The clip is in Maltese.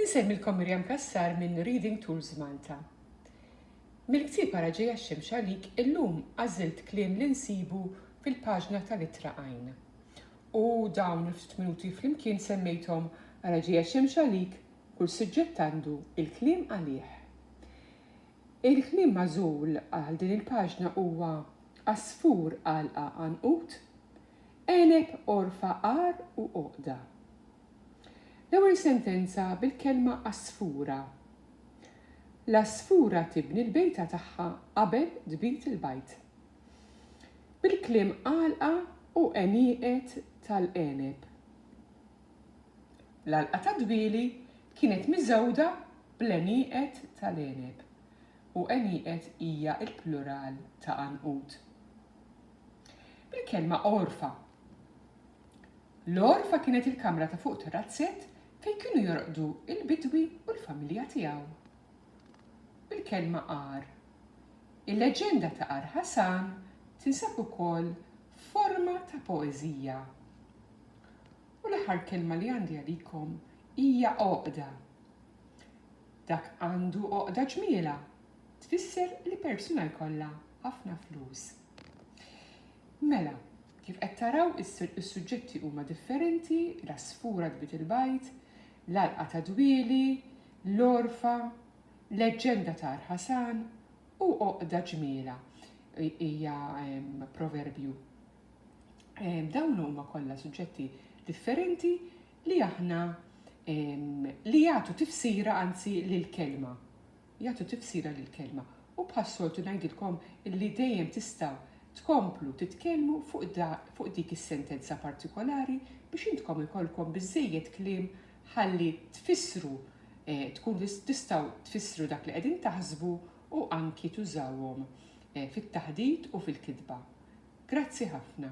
Insemmilkom Miriam Cassar minn Reading Tools Malta. Mill-ktieb ara ġejja x-xemx għalik illum għażilt kliem li nsibu fil-paġna tal-ittra għajn. U dawn il-ftit minuti flimkien semmejthom ara ġejja x-xemx għalik kull suġġett għandu il-kliem għalih. Il-kliem magħżul għal din il-paġna huwa għasfur għalqa għanqud, Għeneb għorfa għar u għoqda. L-ewwel sentenza bil-kelma għasfura. L-għasfura tibni l-bejta tagħha qabel tbid il-bajd. Bil-kliem għalqa u għenieqed tal-għeneb. L-għalqa tad-dwieli kienet miżgħuda bl-għenieqed tal-għeneb, u għenieqed hija l-plural ta' għanqud. bil-kelma għorfa. L-għorfa kienet il-kamra ta' fuq tar-razzett fejn kienu jorqdu l-bidwi u l-familja tiegħu. Bil-kelma għar. Il-leġenda ta' Għar Ħasan tinsab ukoll f'forma ta' poeżija. U l-aħħar kelma li għandi għalikom hija għoqda. Dak għandu għoqda ġmielha tfisser li persuna jkollha ħafna flus. Mela, kif qed taraw is-suġġetti huma differenti, l-għasfura tbit il-bajd, l-għalqa ta' dwieli, l-għorfa, leġġenda ta' Arħasan u għoqda ġmiela hija proverbju. Dawn huma kollha suġġetti differenti li aħna li jagħtu tifsira anzi lill-kelma. jagħtu tifsira lill-kelma u bħas-soltu ngħidilkom li dejjem tistgħu tkomplu titkellmu fuq dik is-sentenza partikolari biex intkom ikollkom biżżejjed kliem ħalli tfissru tkun tistgħu tfissru dak li qegħdin taħsbu u anki tużawhom fit-taħdit u fil-kitba. Grazzi ħafna.